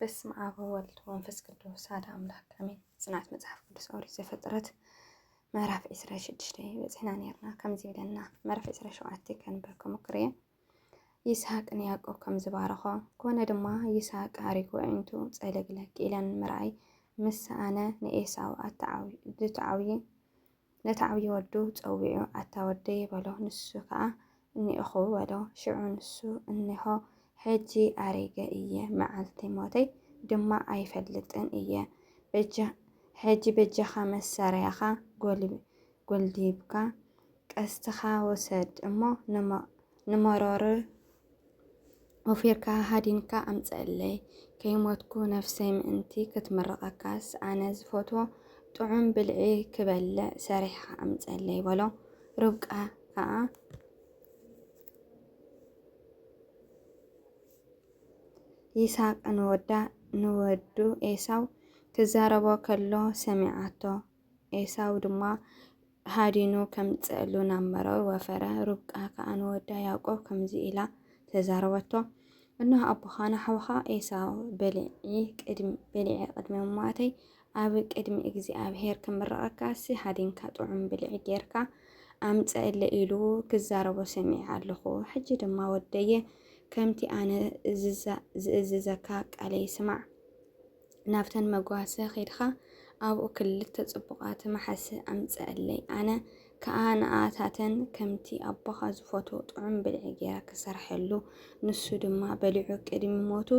በስመ ኣብ ወወልድ ወመንፈስ ቅዱስ ሓደ ኣምላክ ኣሜን። ጽንዓት መጽሓፍ ቅዱስ ኦሪት ዘፍጥረት ምዕራፍ 26 በጺሕና ነርና ከምዚ ይብለና ምዕራፍ 27 ከንብር ክሙክር እየ ይስሐቅ ንያዕቆብ ከም ዝባረኾ ኮነ ድማ ይስሐቅ ኣሪጉ ኣዒንቱ ጸለግለግ ኢለን ምርኣይ ምስ ሰኣነ ንኤሳው ኣተዓውየ ነቲ ዓብዪ ወዱ ጸዊዑ ኣታ ወደይ በሎ። ንሱ ከኣ እኔእኹ በሎ። ሽዑ ንሱ እነሆ ሕጂ ኣሪገ እየ፣ መዓልቲ ሞተይ ድማ ኣይፈልጥን እየ፣ ሕጂ በጃኻ መሳርያኻ ጐልዲብካ ቀስትኻ ውሰድ እሞ ንመሮር ወፊርካ ሃዲንካ ኣምጽኣለይ ከይሞትኩ ነፍሰይ ምእንቲ ክትምርቐካስ ኣነ ዝፈትዎ ጥዑም ብልዒ ክበልዕ ሰሪሕኻ ኣምጽኣለይ በሎ። ርብቃ ከኣ ይስሃቅ ንወዳ ንወዱ ኤሳው ክዛረቦ ከሎ ሰሚዓቶ። ኤሳው ድማ ሃዲኑ ከምጽእሉ ናብ መረር ወፈረ። ርብቃ ከኣ ንወዳ ያዕቆብ ከምዚ ኢላ ተዛረበቶ፣ እነሆ ኣቦኻ ንሓውኻ ኤሳው በሊዒ ቅድሚ በሊዐ ቅድሚ ምሟተይ ኣብ ቅድሚ እግዚኣብሄር ክምርቐካሲ ሃዲንካ ጥዑም ብልዒ ጌርካ ኣምጽእለይ ኢሉ ክዛረቦ ሰሚዐ ኣለኹ። ሕጂ ድማ ወደየ ከምቲ ኣነ ዝእዝዘካ ቃለይ ስማዕ። ናብተን መጓሰ ኬድካ ኣብኡ ክልተ ጽቡቓት መሓሲ ኣምጽኣለይ፣ ኣነ ከኣ ንኣኣታተን ከምቲ ኣቦኻ ዝፈትዎ ጥዑም ብልዒ ገይረ ክሰርሐሉ፣ ንሱ ድማ በሊዑ ቅድሚ ሞቱ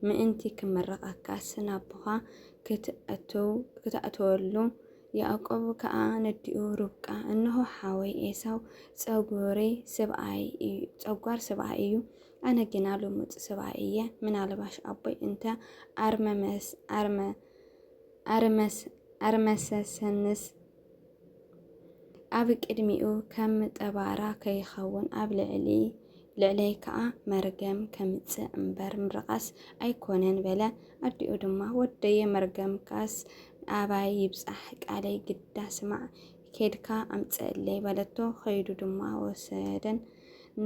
ምእንቲ ክምርቐካስ ናቦኻ ክትኣትወሉ። ያእቆብ ከኣ ነዲኡ ርብቃ፣ እንሆ ሓወይ ኤሳው ጸጉሪ ስብኣይ እዩ፣ ጸጓር ስብኣይ እዩ፣ ኣነ ግና ልሙጽ ሰብኣይ እየ፣ ምናልባሽ ኣቦይ እንተ ኣርመሰሰንስ ኣብ ቅድሚኡ ከም ጠባራ ከይኸውን፣ ኣብ ልዕለይ ከኣ መርገም ከምጽእ እምበር ምርቓስ ኣይኮነን በለ። ኣዲኡ ድማ ወደየ መርገምካስ ኣባይ ይብጻሕ ቃለይ ግዳ ስማዕ፣ ኬድካ ኣምጽእለይ በለቶ። ከይዱ ድማ ወሰደን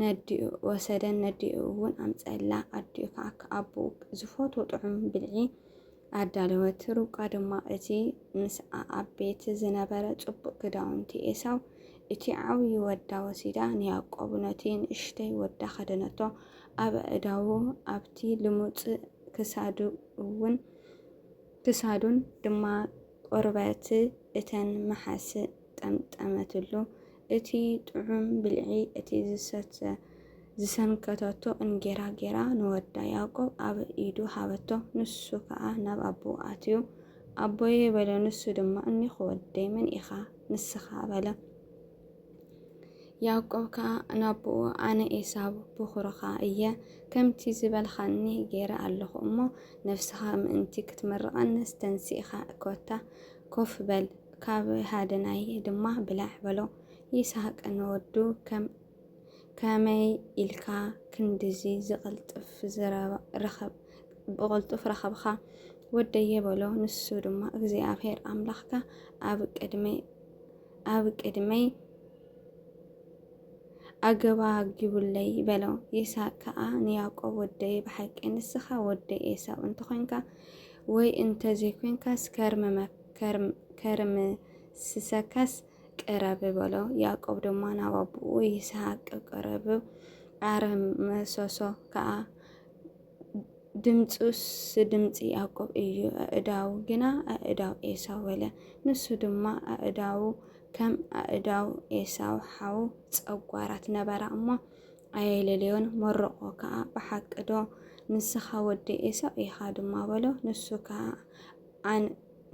ነዲኡ ወሰደን ነዲኡ እውን ኣምጸላ። ኣዲኡ ከዓ ከኣቦኡ ዝፈትዎ ጥዑም ብልዒ ኣዳለወት። ርብቃ ድማ እቲ ምስኣ ኣብ ቤት ዝነበረ ጽቡቕ ክዳውንቲ ኤሳው እቲ ዓብዪ ወዳ ወሲዳ ንያዕቆብ ነቲ ንእሽተይ ወዳ ከደነቶ። ኣብ ኣእዳዉ ኣብቲ ልሙጽ ክሳዱ እውን ክሳዱን ድማ ቈርበት እተን መሓስ ጠምጠመትሉ። እቲ ጥዑም ብልዒ እቲ ዝሰተ ዝሰንከተቶ እንጌራ ጌራ ንወዳ ያእቆብ ኣብ ኢዱ ሃበቶ። ንሱ ከኣ ናብ ኣቦኡ ኣትዩ፣ ኣቦየ በሎ። ንሱ ድማ እኔኹ ወደይ፣ መን ኢኻ ንስኻ? በለ። ያእቆብ ከኣ ናብኡ ኣነ ኤሳው ብዅርኻ እየ፣ ከምቲ ዝበልኻኒ ገይረ ኣለኹ እሞ፣ ነፍስኻ ምእንቲ ኽትምርቐኒስ ተንሲእካ ኮታ ኮፍ በል፣ ካብ ሃደናይ ድማ ብላዕ በሎ። ይስሃቅ ንወዱ ከመይ ኢልካ ክንድዚ ብቕልጡፍ ረኸብካ ወደየ በሎ። ንሱ ድማ እግዚኣብሄር ኣምላኽካ ኣብ ቅድመይ ኣብ ቅድመይ ኣገባጊቡለይ በሎ። ይስሐቅ ከኣ ንያዕቆብ ወደይ ብሓቂ ንስኻ ወዲ ኤሳው እንተኾንካ ወይ እንተዘይኮንካስ ከርምስሰካስ ቅረብ በሎ። ያዕቆብ ድማ ናብ ኣቦኡ ይስሐቅ ቀረብ ኣርመሰሶ ከኣ ድምጹስ ድምጺ ያዕቆብ እዩ፣ ኣእዳው ግና ኣእዳው ኤሳው በለ። ንሱ ድማ ኣእዳው ከም ኣእዳው ኤሳው ሓው ጸጓራት ነበራ እሞ ኣየለለዮን፣ መረቖ ከኣ ብሓቂዶ ንስኻ ወዲ ኤሳው ኢኻ ድማ በሎ። ንሱ ከኣ ኣን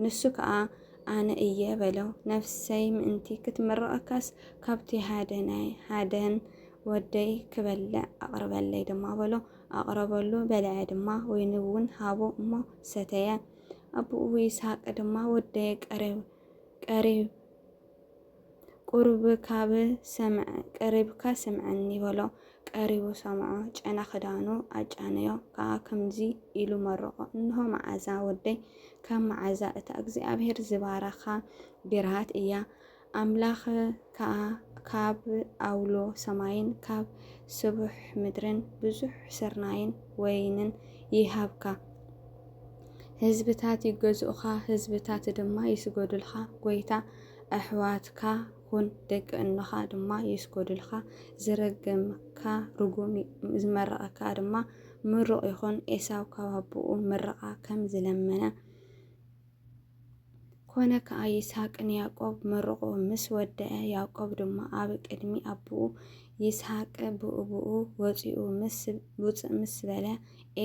ንሱ ከኣ ኣነ እየ በለው። ነፍሰይ ምእንቲ ክትምርቐካስ ካብቲ ሃደናይ ሃደን ወደይ ክበልዕ ኣቕርበለይ ድማ በሎ። ኣቕረበሉ፣ በልዐ ድማ፣ ወይኒውን ሃቦ እሞ ሰተየ። ኣቦኡ ይስሃቅ ድማ፣ ወደየ ቀሪብ ቁርብካብሰምዐቀሪብካ ስምዐኒ በሎ። ቀሪቡ ሰምዖ፣ ጨና ክዳኑ ኣጫነዮ ከኣ ከምዚ ኢሉ መረቖ፣ እንሆ መዓዛ ወደይ፣ ከም መዓዛ እታ እግዚኣብሄር ዝባረኻ ብርሃት እያ። ኣምላኽ ከኣ ካብ ኣውሎ ሰማይን ካብ ስቡሕ ምድርን ብዙሕ ስርናይን ወይንን ይሃብካ። ህዝብታት ይገዝኡኻ፣ ህዝብታት ድማ ይስገዱልካ። ጐይታ፣ ኣሕዋትካ ኹን፣ ደቂ እኖኻ ድማ ይስገዱልካ። ዝረገመካ ርጉም፣ ዝመረቐካ ድማ ምሩቕ ይኹን። ኤሳው ካብ ኣቦኡ ምርቓ ከም ዝለመነ፣ ኮነ ከኣ ይስሃቅ ንያቆብ መርቑ ምስ ወደኣ ያቆብ ድማ ኣብ ቅድሚ ኣቡኡ ይስሃቅ ብኡብኡ ወጺኡ ምስ ውጽእ ምስ በለ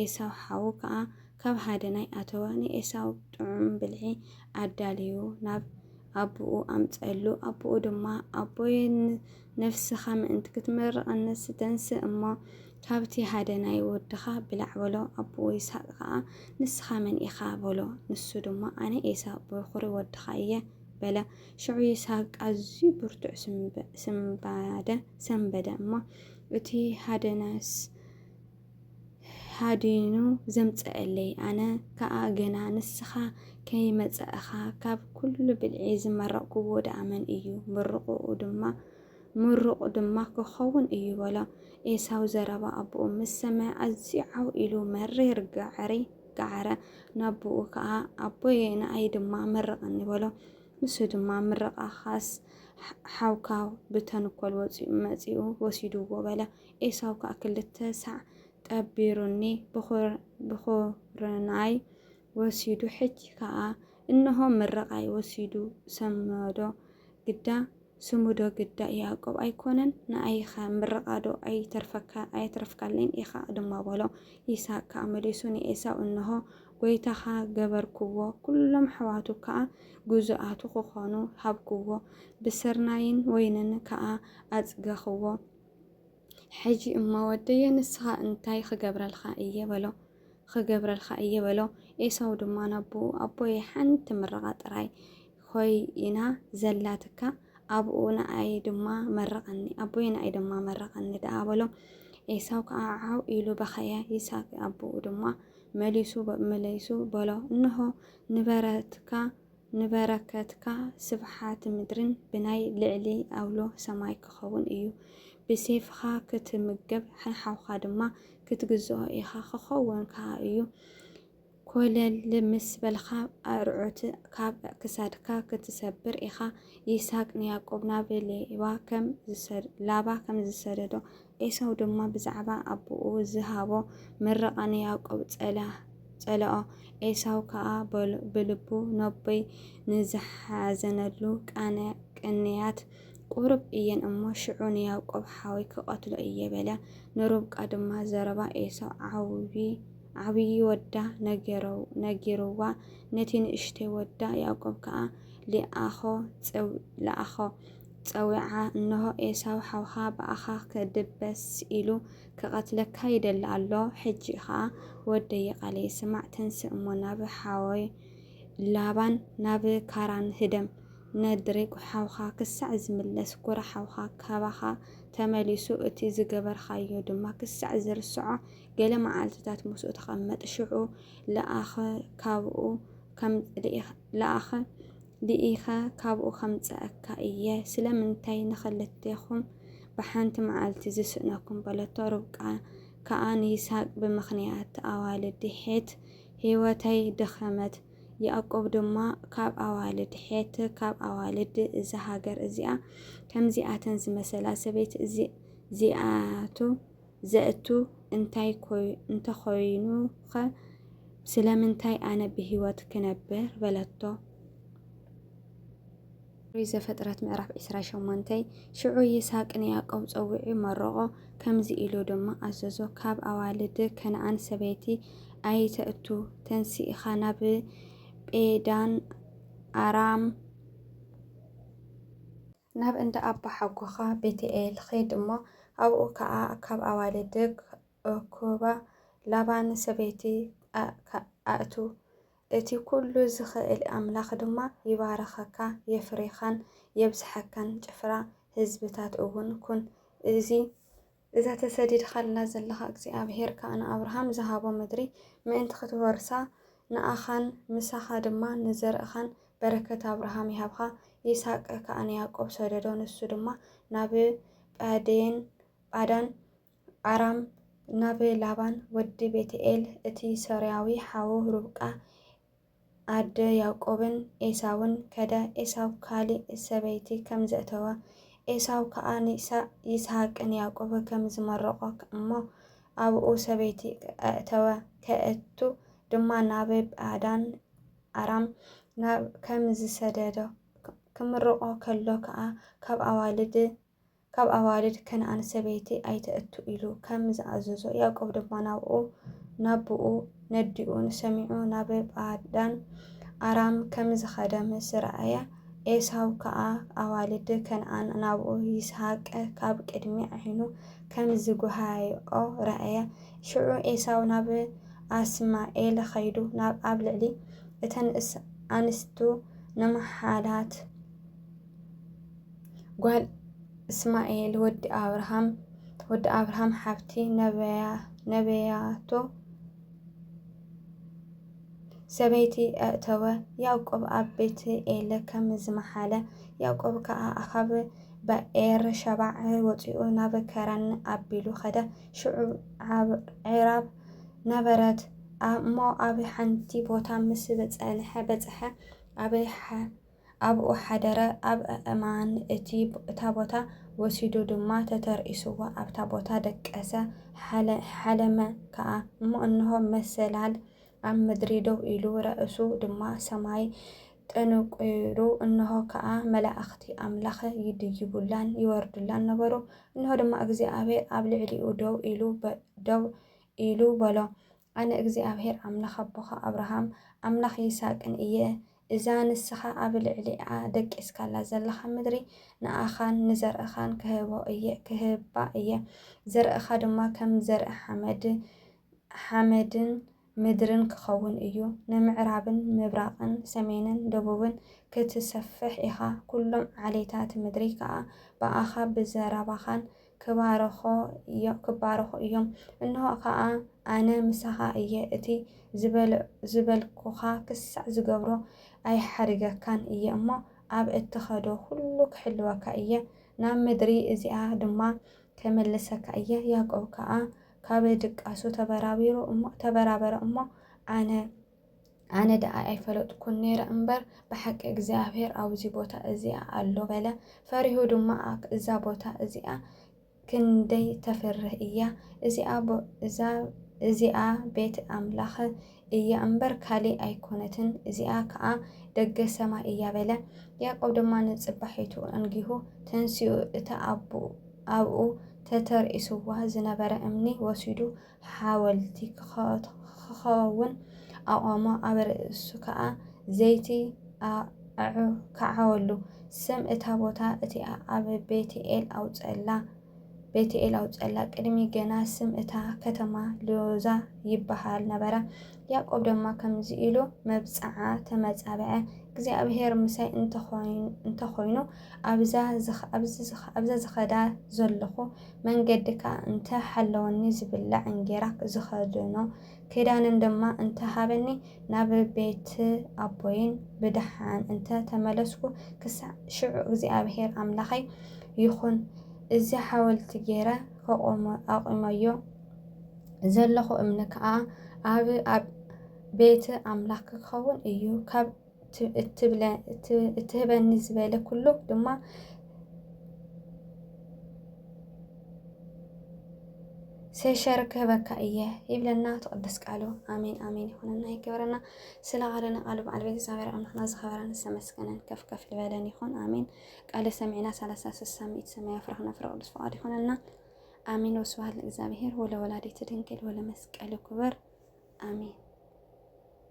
ኤሳው ሓዉ ከኣ ካብ ሃደናይ ኣተወ ንኤሳው ጥዑም ብልዒ ኣዳልዩ ናብ ኣቡኡ ኣምጸሉ ኣቡኡ ድማ ኣቦይ ነፍስኻ ምእንቲ ክትምርቕ ኣነስ ተንስእ እሞ ካብቲ ሃደናይ ወድኻ ብላዕ በሎ። ኣቦኡ ይስሃቅ ከኣ ንስኻ መን ኢኻ? በሎ። ንሱ ድማ ኣነ ኤሳው በዅሪ ወድኻ እየ በለ። ሽዑ ይስሃቅ ኣዝዩ ብርቱዕ ስንባደ ሰንበደ እሞ እቲ ሃደናስ፣ ሃዲኑ ዘምጸእለይ ኣነ ከኣ ገና ንስኻ ከይመጸእኻ ካብ ኩሉ ብልዒ ዝመረቕኩዎ ደኣ መን እዩ ምርቑኡ ድማ ምሩቕ ድማ ክኸውን እዩ በሎ። ኤሳው ዘረባ ኣቦኡ ምስ ሰምዐ ኣዝዩ ዓው ኢሉ መሪር ጋዕሪ ጋዕረ። ናቦኡ ከኣ ኣቦየ ንኣይ ድማ መርቐኒ በሎ። ንሱ ድማ ምርቓኻስ ሓውካ ብተንኮል ወጺኡ መጺኡ ወሲዱዎ በለ። ኤሳው ከኣ ክልተ ሳዕ ቀቢሩኒ፣ ብዅርናይ ወሲዱ፣ ሕጂ ከኣ እንሆ ምርቓይ ወሲዱ ሰመዶ፣ ግዳ ስሙዶ ግዳ ያእቆብ ኣይኰነን? ንኣይኸ ምርቓዶ ኣየትረፍካለይን ኢኻ? ድማ በሎ። ይስሃቅ ከኣ መሊሱ ንኤሳው፣ እንሆ፣ ጐይታኻ ገበርክዎ፣ ኵሎም ኣሕዋቱ ከኣ ግዙኣቱ ክዀኑ ሃብክዎ፣ ብስርናይን ወይንን ከኣ ኣጽገኽዎ። ሕጂ እሞ ወደየ ንስኻ እንታይ ኽገብረልካ እየ በሎ። ኽገብረልካ እየ በሎ። ኤሳው ድማ ናቦኡ ኣቦየ ሓንቲ ምርቓ ጥራይ ኾይና ዘላትካ ኣብኡ ንኣይ ድማ መርቐኒ ኣቦየ ንኣይ ድማ መርቐኒ ደኣ በሎ። ኤሳው ከኣ ዓው ኢሉ በኸየ። ይስሐቅ ኣቦኡ ድማ መሊሱ መለይሱ በሎ እንሆ ንበረትካ ንበረከትካ ስብሓት ምድርን ብናይ ልዕሊ ኣውሎ ሰማይ ክኸውን እዩ። ብሴፍኻ ክትምገብ ንሓውካ ድማ ክትግዝኦ ኢኻ ክኸውን ከኣ እዩ። ኮለል ምስ በልካ ኣርዑት ካብ ክሳድካ ክትሰብር ኢኻ። ይስሃቅ ንያቆብ ናብ ሌባ ከም ላባ ከም ዝሰደዶ ኤሳው ድማ ብዛዕባ ኣቦኡ ዝሃቦ ምርቓ ንያእቆብ ጸልኦ። ኤሳው ከኣ ብልቡ ነቦይ ንዝሓዘነሉ ቅንያት ቁሩብ እየን እሞ፣ ሽዑ ንያእቆብ ሓወይ ክቐትሎ እየ በለ። ንርብቃ ድማ ዘረባ ኤሳው ዓብዪ ወዳ ነጊርዋ፣ ነቲ ንእሽተይ ወዳ ያእቆብ ከኣ ልኣኾ። ጸዊዓ፣ እንሆ፣ ኤሳው ሓውካ ብኣኻ ክድበስ ኢሉ ክቐትለካ ይደሊ ኣሎ፣ ሕጂ ኸኣ ወደይ ቓለይ ስማዕ፣ ተንስእ እሞ ናብ ሓወይ ላባን ናብ ካራን ህደም፣ ነድሪግ ሓውካ ክሳዕ ዝምለስ፣ ኵራ ሓውካ ካባኻ ተመሊሱ፣ እቲ ዝገበርካዮ ድማ ክሳዕ ዝርስዖ፣ ገለ መዓልትታት ምስኡ ተቐመጥ፣ ሽዑ ልኣኽ፣ ካብኡ ከም ልኢኽ ልኣኽ፣ ዲኢኻ ካብኡ ኸምጽኣካ እየ፣ ስለምንታይ ንኽልቴኹም ብሓንቲ መዓልቲ ዝስእነኩም? በለቶ። ርብቃ ከኣ ንይስሃቅ ብምኽንያት ኣዋልድ ሔት ህይወተይ ደኸመት፣ ያእቆብ ድማ ካብ ኣዋልድ ሔት፣ ካብ ኣዋልድ እዛ ሃገር እዚኣ፣ ከምዚኣተን ዝመሰላ ሰበይት እዚኣቱ፣ ዘእቱ እንታይ እንተኾይኑኸ ስለምንታይ ኣነ ብህይወት ክነብር? በለቶ። ኦሪት ዘፍጥረት ምዕራፍ ዕስራ ሸሞንተ ሽዑ ይስሐቅ ንያዕቆብ ጸዊዑ መረቖ፣ ከምዚ ኢሉ ድማ ኣዘዞ፣ ካብ ኣዋልድ ከነኣን ሰበይቲ ኣይተእቱ፣ ተንሲእካ ናብ ጴዳን ኣራም ናብ እንዳ ኣቦሓጎኻ፣ ቤትኤል፣ ኺድ እሞ፣ ኣብኡ ኸኣ ካብ ኣዋልድክ እኩባ ላባ ንሰበይቲ ኣእቱ፣ እቲ ኵሉ ዚኽእል ኣምላኽ ድማ ይባርኸካ፣ የፍሪኻን የብዝሓካን፣ ጭፍራ ህዝብታት እውን ኩን። እዚ። እዛ ተሰዲድካላ ዘለኻ እግዚኣብሄር ከኣ ንኣብርሃም ዝሃቦ ምድሪ ምእንቲ ኽትወርሳ፣ ንኣኻን ምሳኻ ድማ ንዘርእኻን በረከት ኣብርሃም ይሃብካ። ይስሃቅ ከኣ ንያእቆብ ሰደዶ፣ ንሱ ድማ ናብ ጳዴን፣ ጳዳን፣ ኣራም፣ ናብ ላባን ወዲ ቤትኤል እቲ ሶርያዊ ሓዉ ርብቃ፣ ኣደ ያእቆብን ኤሳውን ከደ፣ ኤሳው ካልእ ሰበይቲ ከም ዘእተወ፣ ኤሳው ከኣ ንኢሳእ፣ ይስሃቅን ያእቆብ ከም ዝመረቖ እሞ ኣብኡ ሰበይቲ ኣእተወ፣ ከእቱ ድማ ናብ ጳዳን ኣራም ናብ ከም ዝሰደዶ፣ ክምርቖ ከሎ ከኣ ካብ ኣዋልድ ካብ ኣዋልድ ከነኣን ሰበይቲ ኣይተእቱ ኢሉ ከም ዝኣዘዞ፣ ያእቆብ ድማ ናብኡ ናብኡ ነዲኡን ሰሚዑ ናብ ጳዳን ኣራም ከም ዝኸደ ምስ ረኣየ፣ ኤሳው ከኣ ኣዋልድ ከነኣን ናብኡ ይስሃቅ ካብ ቅድሚ ዓይኑ ከም ዝጐሃይኦ ረኣየ። ሽዑ ኤሳው ናብ ኣስማኤል ኸይዱ ኣብ ልዕሊ እተን ኣንስቱ ንምሓላት፣ ጓል እስማኤል ወዲ ኣብርሃም ወዲ ኣብርሃም ሓብቲ ነበያቶ ሰበይቲ ኣእተወ። ያዕቆብ ኣብ ቤት ኤለ ከም ዝመሓለ ያዕቆብ ከኣ ኣኻብ በኤር ሸባዕ ወፂኡ ናብ ከረን ኣቢሉ ኸደ። ሽዑ ዒራብ ነበረት እሞ ኣብ ሓንቲ ቦታ ምስ በፀሐ ኣብ ኣብኡ ሓደረ፣ ኣብ ኣእማን እቲ እታ ቦታ ወሲዱ ድማ ተተርኢስዎ ኣብታ ቦታ ደቀሰ፣ ሓለ ሓለመ ከኣ፣ እሞ እንሆ መሰላል ኣብ ምድሪ ደው ኢሉ፣ ርእሱ ድማ ሰማይ ጠንቊሩ፣ እንሆ ከኣ መላእኽቲ ኣምላኽ ይድይቡላን ይወርዱላን ነበሩ፣ እንሆ ድማ እግዚኣብሄር ኣብ ልዕሊኡ ደው ኢሉ ደው ኢሉ በሎ፣ ኣነ እግዚኣብሄር ኣምላኽ ኣቦኻ ኣብርሃም፣ ኣምላኽ ይስሃቅን እየ፣ እዛ ንስኻ ኣብ ልዕሊኣ ደቂስካላ ዘለኻ ምድሪ፣ ንኣኻን ንዘርእኻን ክህቦ እየ፣ ክህባ እየ፣ ዘርእኻ ድማ ከም ዘርኢ ሓመድ፣ ሓመድን ምድርን ክኸውን እዩ፣ ንምዕራብን ምብራቕን ሰሜንን ደቡብን ክትሰፍሕ ኢኻ፣ ኵሎም ዓሌታት ምድሪ ከኣ ብኣኻ፣ ብዘረባኻን ክባርኾ እዮም ክባርኹ እዮም እንሆ ከኣ ኣነ ምሳኻ እየ እቲ ዝበል ዝበልኩኻ ክሳዕ ዝገብሮ ኣይሓድገካን እየ እሞ ኣብ እትኸዶ ዅሉ ክሕልወካ እየ ናብ ምድሪ እዚኣ ድማ ኬምልሰካ እየ ያእቆብ ከኣ ካብ ድቃሱ ተበራቢሩ እሞ ተበራበረ እሞ ኣነ ኣነ ደኣ ኣይፈለጥኩን ነይረ እምበር ብሓቂ እግዚኣብሔር ኣብዚ ቦታ እዚኣ ኣሎ በለ። ፈሪሁ ድማ እዛ ቦታ እዚኣ ክንደይ ተፍርህ እያ እዚኣ ቤት ኣምላኽ እያ እምበር ካሊእ ኣይኮነትን፣ እዚኣ ከዓ ደገ ሰማይ እያ በለ። ያዕቆብ ድማ ንጽባሒቱ እንጊሁ ተንሲኡ እታ ኣብኡ ተተርኢስዋ ዝነበረ እምኒ ወሲዱ ሓወልቲ ኪኸውን ኣቖሞ፣ ኣብ ርእሱ ከኣ ዘይቲ ኣዐወሉ። ስም እታ ቦታ እቲኣ ኣብ ቤት-ኤል ኣውጸኣላ፣ ቤት-ኤል ኣውጸኣላ። ቅድሚ ገና ስም እታ ከተማ ሎዛ ይብሃል ነበረ። ያእቆብ ድማ ከምዚ ኢሉ መብጽዓ ተመጻብዐ፣ እግዚኣብሄር ምሳይ እንተ ዀይኑ፣ ኣብዛ ዝኸዳ ዘሎኹ መንገዲ ከኣ እንተ ሃለወኒ ዝብላዕ እንጌራ ዝኸድኖ ክዳንን ድማ እንተ ሃበኒ ናብ ቤት ኣቦይን ብደሓን እንተ ተመለስኩ ክሳዕ ሽዑ እግዚኣብሄር ኣምላኸይ ይኹን እዚ ሓወልቲ ገይረ ከቆሞ ኣቁመዮ ዘለኹ እምኒ ከኣ ኣብ ኣብ ቤት ኣምላኽ ክኸውን እዩ ካብ እትህበኒ ዝበለ ኩሉ ድማ ሴሸር ክህበካ እየ ይብለና ትቅደስ ቃሉ። ኣሜን ኣሜን ይኹንና ይገበረና። ስለ ቃልና ቃሉ በዓል ቤት እግዚኣብሔር ኣምላኽና ዝኸበረን ዝተመስገነን ከፍ ከፍ ዝበለን ይኹን። ኣሜን ቃለ ሰሚዕና ሰላሳ ስሳ ሚእት ሰማይ ኣፍራኽ ነፍረ ቅዱስ ፍቃድ ይኹንና። ኣሜን ወስብሐት ለእግዚኣብሔር ወለወላዲቱ ድንግል ወለመስቀሉ ክብር ኣሜን።